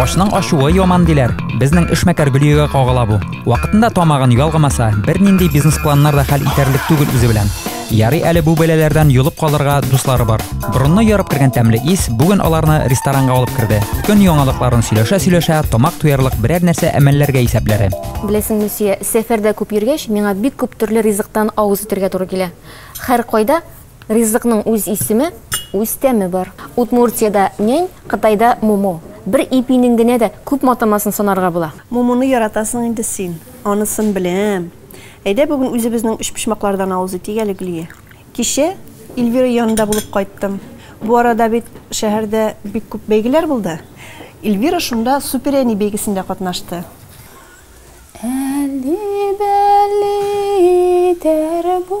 Ашның ашуы яман диләр. Безнең эшмәкәр Гөлиягә кагыла бу. Вакытында тамагын ялгамаса, бернинди бизнес-планнар да хәл итәрлек түгел үзе белән. Ярый әле бу бәләләрдән йолып калырга дуслары бар. Борынны ярып кергән тәмле ис бүген аларны ресторанга алып керде. Көн яңалыкларын сөйләшә-сөйләшә, тамак туярлык берәр нәрсә әмәлләргә исәпләре. Беләсең, Люсия, сәфәрдә күп йөргәч, миңа бик күп төрле ризыктан авыз итәргә туры килә. Хәр кайда Ризыкның үз исеме, үз тәме бар. Удмуртиядә нянь, Кытайда мумо. Бер ипинең генә дә күп матамасын санарга була. Мумоны яратасың инде син, анысын беләм. Әйдә бүген үзебезнең өчпочмаклардан авыз итик әле, Гөлия. Кичә Ильвира янында булып кайттым. Бу арада бит шәһәрдә бик күп бәйгеләр булды. Ильвира шунда суперәни бәйгесендә катнашты. Әлли-бәлли итәр бу,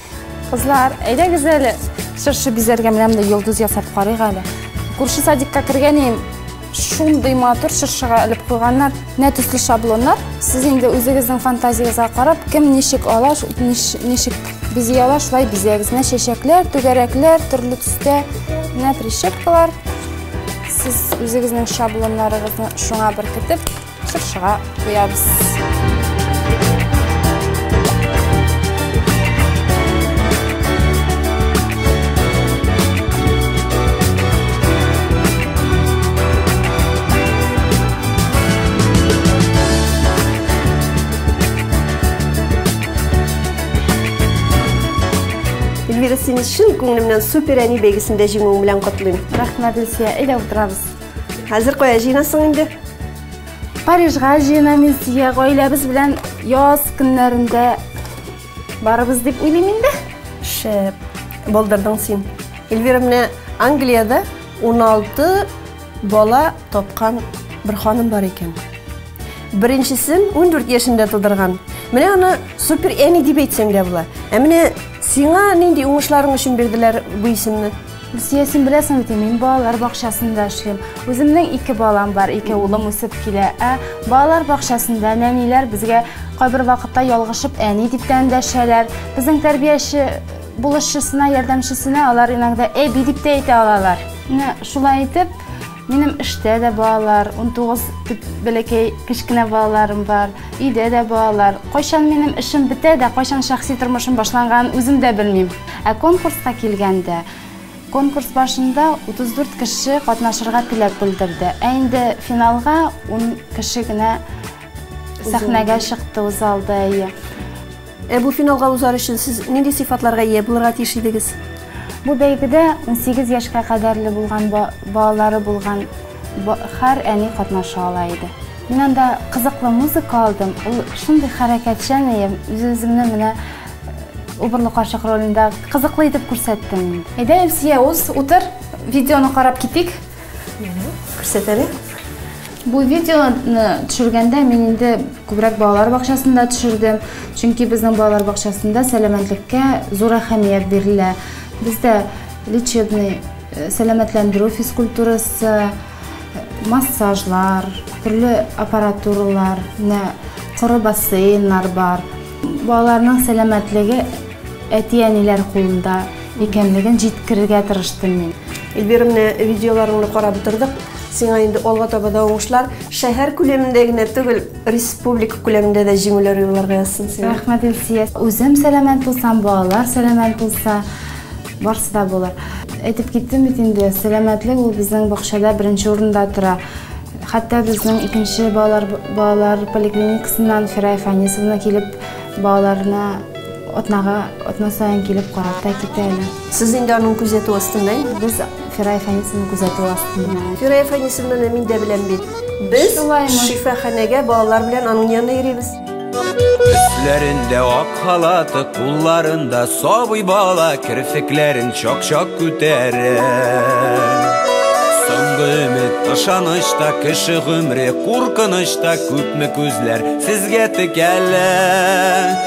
Кызлар, әйдәгез әле. Чыршы бизәргә менә монда йолдыз ясап карыйк әле. Күрше садикка кергәнем шундый матур чыршыга элеп куйганнар, нә төсле шаблоннар. Сез инде үзегезнең фантазиясегезгә карап, кем ничек ала, ничек бизи ала, шулай бизәгез. Нә чәчәкләр, түгәрәкләр, төрле төстә, нә прищепкалар. Сез үзегезнең шаблоннарыгызны шуңа беркетеп, Чыршыга куябыз. Эльвира, сине чын күңелемнән супер әни бәйгесендә җиңүең белән котлыйм. Рәхмәт, Илсөя, әйдә утырабыз. Хәзер кая җыенасың инде? Парижга җыенам Илсия, гаиләбез белән яз көннәрендә барыбыз дип уйлыйм инде. Шәп, булдырдың син. Эльвира менә Англиядә 16 бала тапкан бер ханым бар икән. Беренчесен 14 яшендә тудырган. Менә аны супер әни дип әйтсәң дә була. Ә менә сиңа нинди уңышларың өчен бирделәр бу исемне? Гөлсия, син беләсең бит, мин балалар бакчасында эшлим. Үземнең ике балам бар, ике улым үсеп килә. Ә балалар бакчасында нәниләр безгә кайбер вакытта ялгышып әни дип тә эндәшәләр. Безнең тәрбияче булышчысына, ярдәмчесенә алар иногда әби дип тә әйтә алалар. Менә шулай итеп, Минем эштә дә балалар, 19 дип бәләкәй кечкенә балаларым бар, өйдә дә балалар. Кайчан минем эшем бетә дә, кайчан шәхси тормышым башланганын үзем дә белмим. Ә конкурска килгәндә, конкурс башында 34 кеше катнашырга теләк белдерде. Ә инде финалга 10 кеше генә сәхнәгә чыкты, узалды. Ә бу финалга узар өчен сез нинди сыйфатларга ия булырга тиеш идегез? Бу бәйгедә 18 яшькә кадәрле булган балалары булган һәр әни катнаша ала иде. Мин анда кызыклы музыка алдым. Ул шундый хәрәкәтчән ием. Үз-үземне менә убырлы карчык ролендә кызыклы итеп күрсәттем. Әйдә, Илсия, үз утыр, видеоны карап китик. Күрсәт әле. Бу видеоны төшергәндә мин инде күбрәк балалар бакчасында төшердем. Чөнки безнең балалар бакчасында сәламәтлеккә зур әһәмият бирелә. Бездә лечебный, э, сәламәтләндерү физкультурасы, массажлар, төрле аппаратуралар, менә коры бассейннар бар. Балаларның сәламәтлеге әти-әниләр кулында. Икәнлеген җиткерергә тырыштым мин. Эльвира, менә видеоларыңны карап утырдык. Сиңа инде алга таба да уңышлар. Шәһәр күләмендә генә түгел, республика күләмендә дә җиңүләр юлларга язсын сиңа. Рәхмәт, Илсия. Үзем сәламәт булсам, балалар сәламәт булса, барсы да булыр. Әйтеп киттем бит инде, сәламәтлек ул безнең бакчада беренче урында тора. Хәтта безнең икенче балалар балалар поликлиникасыннан Фирая Фәнисовна килеп балаларны Атнага, атна саен килеп карап та китә әле. Сез инде аның күзәтү астында инде? Без Фирая Фәнисовна күзәтү астында. Фирая Фәнисовнаны мин дә беләм бит. Без шифаханәгә балалар белән аның янына йөрибез. Өсләрендә ак халаты, кулларында сабый бала, керфекләрен чак-чак күтәрә. Соңгы өмет ышанычта, кеше гомре куркынычта, күпме күзләр сезгә текәлә.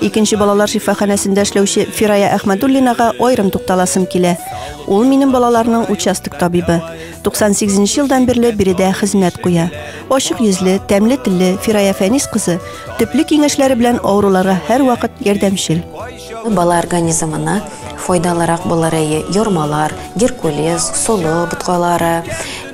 Икенче балалар шифаханәсендә эшләүче Фирая Әхмәдуллинага аерым тукталасым килә. Ул минем балаларның участок табибы. 98 елдан бирле биредә хезмәт куя. Ачык йөзле, тәмле телле Фирая Фәнис кызы төпле киңәшләре белән авыруларга һәрвакыт ярдәмчел. Бала организмына файдалырак булырые йормалар, геркулес, солы боткалары,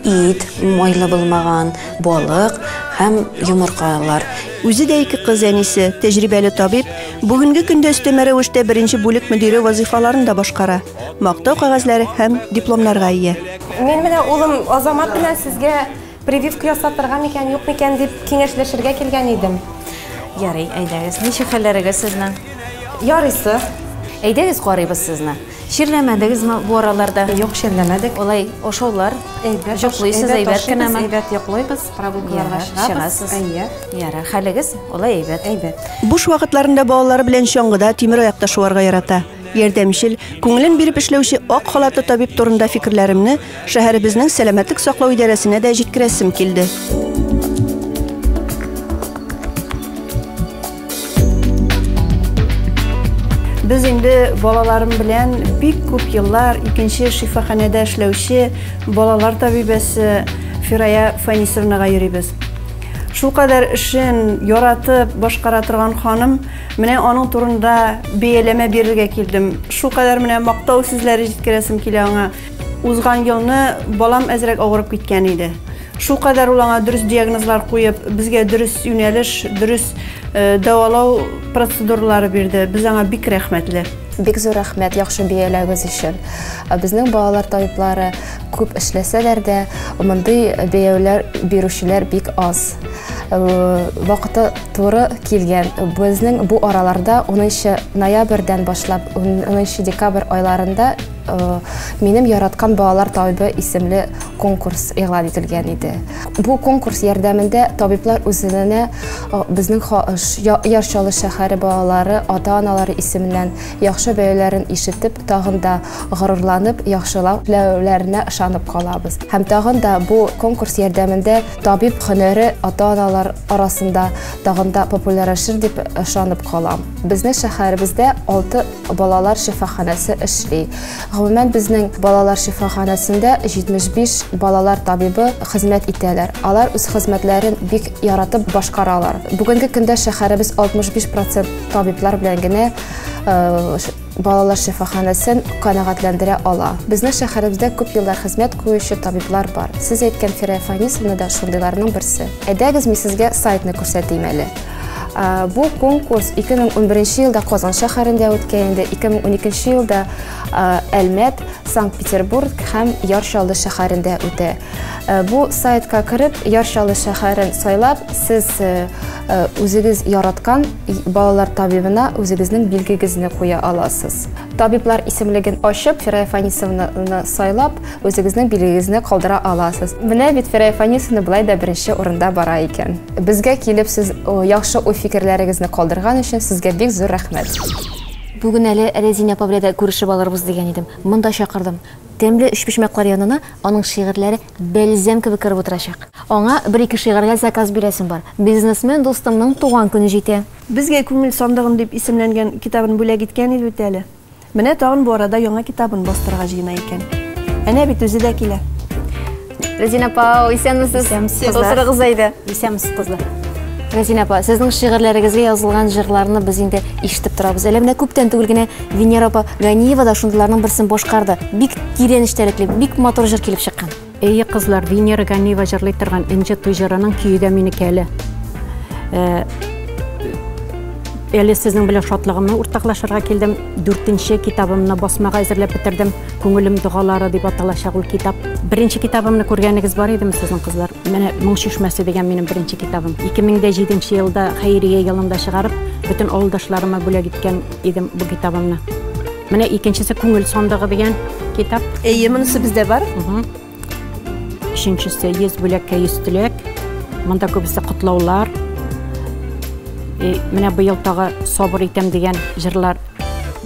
Ит, майлы булмаган, балык һәм йомыркалар. Үзе дә ике кыз әнисе, тәҗрибәле табиб, бүгенге көндә өстәмә рәвештә беренче бүлек мөдире вазыйфаларын да башкара, мактау кәгазьләре һәм дипломнарга ия. Мин менә улым Азамат белән сезгә прививка ясатырга микән, юк микән дип киңәшләшергә килгән идем. Ярый, әйдәгез. Ничек хәлләрегез сезнең? Ярыйсы. Әйдәгез карыйбыз сезне. Чирләмәдегезме бу араларда? Юк, чирләмәдек. Алай ашаулар, әйбәт, йоклыйсыз, әйбәт кенәме? Әйбәт йоклыйбыз, прогулкаларга чыгабыз. Әйе. Ярар, хәлегез алай әйбәт. Әйбәт. Буш вакытларында балалары белән чаңгыда, тимер аякта шуарга ярата. Ярдәмчел, күңелен биреп эшләүче ак халатлы табиб турында фикерләремне шәһәребезнең сәламәтлек саклау идарәсенә дә җиткерәсем килде. Без инде балаларым белән бик күп еллар икенче шифаханәдә эшләүче балалар табибәсе Фирая Фанисовнага йөрибез. Шул кадәр эшен яратып башкара торган ханым, менә аның турында бәяләмә бирергә килдем. Шул кадәр менә мактау сүзләре җиткерәсем килә аңа. Узган елны балам әзрәк авырып киткән иде. Шулкадәр ул аңа дөрес диагнозлар куеп, безгә дөрес юнәлеш, дөрес дәвалау процедуралары бирде. Без аңа бик рәхмәтле. Бик зур рәхмәт яхшы бәяләвегез өчен. Безнең балалар табиблары күп эшләсәләр дә, мондый бәяләүләр бирүчеләр бик аз. Вакыты туры килгән. Безнең бу араларда 10 ноябрьдән башлап 10 декабрь айларында Э, минем яраткан балалар табибы исемле конкурс игълан ителгән иде бу конкурс ярдәмендә табиблар үзенә э, безнең яр чаллы шәһәре балалары ата аналары исеменнән яхшы бәяләрен ишетеп тагын да горурланып яхшылау теләүләренә ышанып калабыз һәм тагын да бу конкурс ярдәмендә табиб һөнәре ата аналар арасында тагын да популярлашыр дип ышанып калам безнең шәһәребездә алты балалар шифаханәсе эшли. Гомумән безнең балалар шифаханәсендә 75 балалар табибы хезмәт итәләр. Алар үз хезмәтләрен бик яратып башкаралар. Бүгенге көндә шәһәребез 65% табиблар белән генә э, балалар шифаханәсен канәгатьләндерә ала. Безнең шәһәребездә күп еллар хезмәт куючы табиблар бар. Сез әйткән Фирая Фанисовна да шундыйларның берсе. Әйдәгез, мин сезгә сайтны күрсәтим әле. Э, бу конкурс 2011 елда Казан шәһәрендә үткән инде, 2012 елда э, Әлмәт, Санкт-Петербург һәм Яр Чаллы шәһәрендә үтә. Э, бу сайтка кереп, Яр Чаллы шәһәрен сайлап, сез үзегез яраткан балалар табибына үзегезнең билгегезне куя аласыз. Табиблар исемлеген ачып, Фирая Фанисовнаны сайлап, Үзегезнең билегезне калдыра аласыз. Менә бит Фирая Фанисовна болай да беренче урында бара икән. Безгә килеп сез яхшы уй-фикерләрегезне калдырган өчен сезгә бик зур рәхмәт. Бүген әле Рәзинә апа белән дә күрешеп алырбыз дигән идем. Монда чакырдым. Тәмле өчпочмаклар янына аның шигырьләре бәлзәм кебек кереп утырачак. Аңа бер-ике шигырьгә заказ бирәсем бар. Бизнесмен дустымның туган көне җитә. Безгә күңел сандыгым дип исемләнгән китабын бүләк иткән иде бит әле. Менә тагын бу арада яңа китабын бастырырга җыена икән. Әнә бит үзе дә килә. Рәзинә апа, исәнмесез. Исәнмесез, кызлар. Утырыгыз әйдә. Исәнмесез, кызлар. Рәзинә апа, сезнең шигырьләрегезгә язылган җырларны без инде ишетеп торабыз. Әле менә күптән түгел генә Венера апа Ганиева да шундыйларның берсен башкарды. Бик тирән эчтәлекле, бик матур җыр килеп чыккан. Эйе кызлар, Венера Ганиева җырлый торган Энҗе туй җырының көе дә минеке әле. Э, әле сезнең белән шатлыгымны уртаклашырга килдем. Дүртенче китабымны басмага әзерләп бетердем. Күңелем догалары дип аталачак ул китап. Беренче китабымны күргәнегез бар идеме сезнең кызлар? Менә Моң чишмәсе дигән минем беренче китабым. 2007 елда хәйрия елында чыгарып, бөтен авылдашларыма бүләк иткән идем бу китабымны. Менә икенчесе күңел сандыгы дигән китап. Әйе, монысы бездә бар. Өченчесе 100 бүләккә 100 теләк. Монда күбесе котлаулар. И менә быел тагы Сабыр итәм дигән җырлар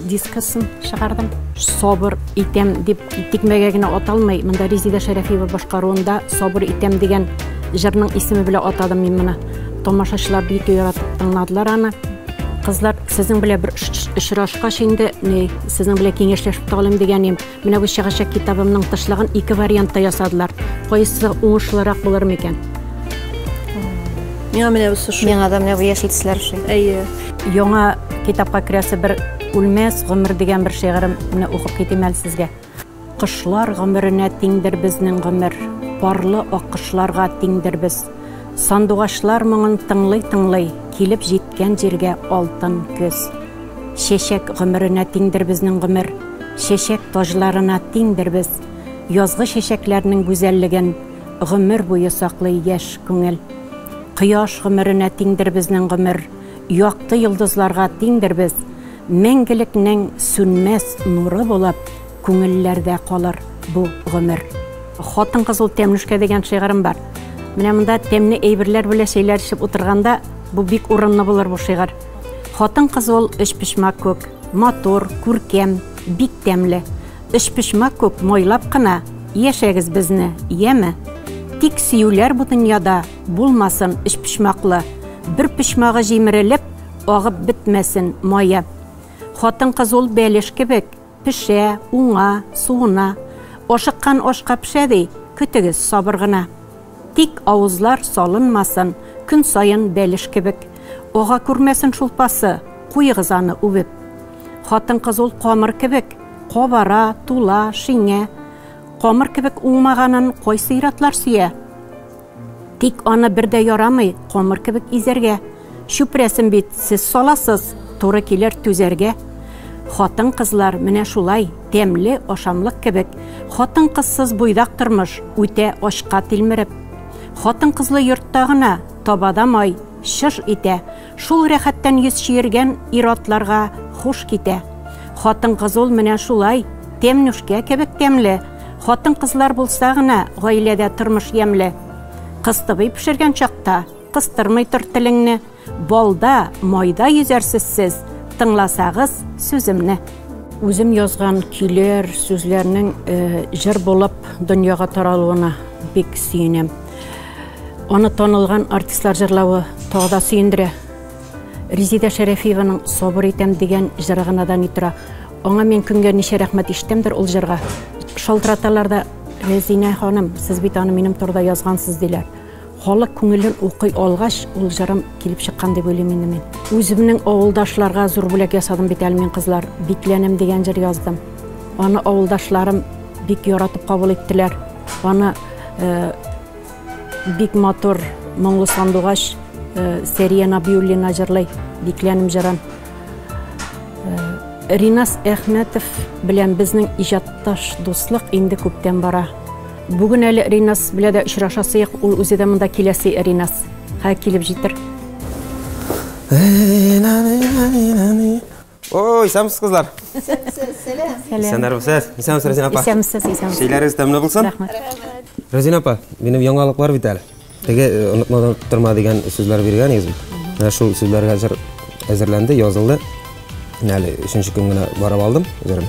дискасын чыгардым. Сабыр итәм дип тикмәгә генә аталмый. Монда Резеда Шәрәфиева башкаруында Сабыр итәм дигән җырның исеме белән атадым мин моны. Тамашачылар бик яратып тыңладылар аны. Кызлар, сезнең белән бер очрашкач инде, ни, сезнең белән киңәшләшеп тә алыйм дигәнем. Менә бу чыгачак китабымның тышлыгын ике вариантта ясадылар. Кайсы уңышлырак булыр микән? Миңа менә бусы шул. Миңа да менә бу яшел төсләр шул. Әйе. Яңа китапка керәсе бер үлмәс гомер дигән бер шигырем менә укып китим әле сезгә. Кошлар гомеренә тиңдер безнең гомер, Парлы аккошларга тиңдер без. Сандугачлар моңын тыңлый-тыңлый, Килеп җиткән җиргә алтын көз. Чәчәк гомеренә тиңдер безнең гомер, Чәчәк таҗларына тиңдер без. Язгы чәчәкләрнең гүзәллеген Гомер буе саклый яшь күңел. Кояш гомеренә тиңдер безнең гомер, Якты йолдызларга тиңдер без. Мәңгелекнең сүнмәс нуры булып күңелләрдә калыр бу гомер. Хатын-кызыл тәмлүшкә дигән шигырем бар. Менә монда тәмле әйберләр белән чәйләр эчеп утырганда, бу бик урынлы булыр бу шигырь. Хатын-кыз ул өчпочмак күк, матур, күркәм, бик тәмле. Өчпочмак күк майлап кына яшәгез безне, яме? Тик сөюләр бу дөньяда булмасын өчпочмаклы. Бер почмагы җимерелеп, агып бетмәсен мая. Хатын-кыз ул бәлеш кебек, пешә, уңа, суына. Ашыккан ашка пешә ди, көтегез сабыр гына. Тик авызлар салынмасын, көн саен бәлеш кебек. Ага күрмәсен шул пасы, куегыз аны үбеп. Хатын-кыз ул камыр кебек, кабара, тула, шиңә. Камыр кебек уңмаганын кайсы иратлар сөя? Тик аны бер дә ярамый, камыр кебек изәргә. Чүпрәсен бит сез саласыз, туры килер түзәргә. Хатын-кызлар менә шулай, тәмле ашамлык кебек. Хатын-кызсыз буйдак тормыш, үтә ачка тилмереп. Хатын-кызлы йортта гына, табада май, чыж итә. Шул рәхәттән йөз чиергән ир-атларга хуш китә. Хатын-кыз ул менә шулай, тәмнүшкә кебек тәмле. Хатын-кызлар булса гына, гаиләдә тормыш ямьле. Кыстыбый пешергән чакта, кыстырмый тор телеңне. Балда, майда йөзәрсез сез, тыңласагыз сүземне. Үзем язган көйләр, сүзләрнең җыр булып дөньяга таралуына бик сөенәм. Аны танылган артистлар җырлавы тагы да сөендерә. Резидә Шәрәфиеваның Сабыр итәм дигән җыры гына да ни тора. Аңа мин көнгә ничә рәхмәт ишетәмдер ул җырга. Шалтыраталар да, Резинә ханым, сез бит аны минем турыда язгансыз, диләр. Халык күңелен укый алгач, ул җырым килеп чыккан дип уйлыйм инде мин. Үземнең авылдашларга зур бүләк ясадым бит әле мин, кызлар. Бикләнәм дигән җыр яздым. Аны авылдашларым бик яратып кабул иттеләр. Аны э, бик матур моңлы сандугач э, Сәрия Набиуллина җырлый, бикләнем җырын. Э, Ринас Әхмәтов белән безнең иҗатташ дуслык инде күптән бара. Бүген әле Ринас белән дә очрашасыек, ул үзе дә монда киләсе Ринас. Хә килеп җитер. Ой, исәнмесез, кызлар. Исәнмесез, сәлам. Исәнмесез. Исәнмесез, Рәзинә апа. Исәнмесез, исәнмесез. Шәйләрегез тәмле булсын. Рәхмәт. Рәзинә апа, минем яңалыклар бит әле. Теге э, онытмадан торма дигән сүзләр биргән идегез бит. Менә шул сүзләр хәзер әзерләнде, язылды. Менә әле өченче көн генә барып алдым үзләрен.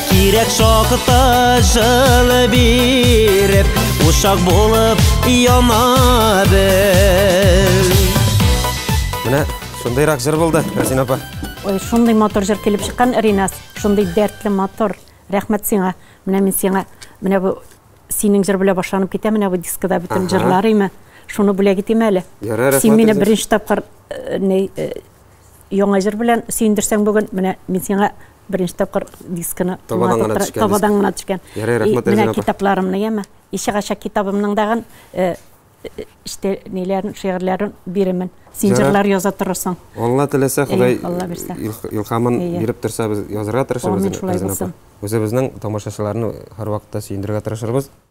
Кирәк шакта җылы биреп, ушак булып яна без. Менә шундыйрак җыр булды, Рәсин апа. Ой, шундый мотор җыр килеп чыккан, Ринас. Шундый дәртле мотор. Рәхмәт сиңа. Менә мин сиңа, менә бу синең җыр белән башланып китә, менә бу дискада бөтен җырлар име. Шуны бүләк итим әле. Ярар, рәхмәт. Син мине беренче тапкыр э, не э, яңа җыр белән сөендерсәң бүген, менә мин сиңа беренче тапкыр дисканы табадан гына төшкән. Табадан гына төшкән. Ярый, рәхмәт Эльвира апа. Китапларымны яме. Ише гача китабымның дагын э, э, işte ниләрен, шигырьләрен бирәмен. Син җырлар яза торырсың. Алла теләсә, Ходай илхамын биреп торса, без язарга тырышабыз. Амин, шулай булсын. Үзебезнең тамашачыларны һәрвакытта сөендерергә тырышырбыз.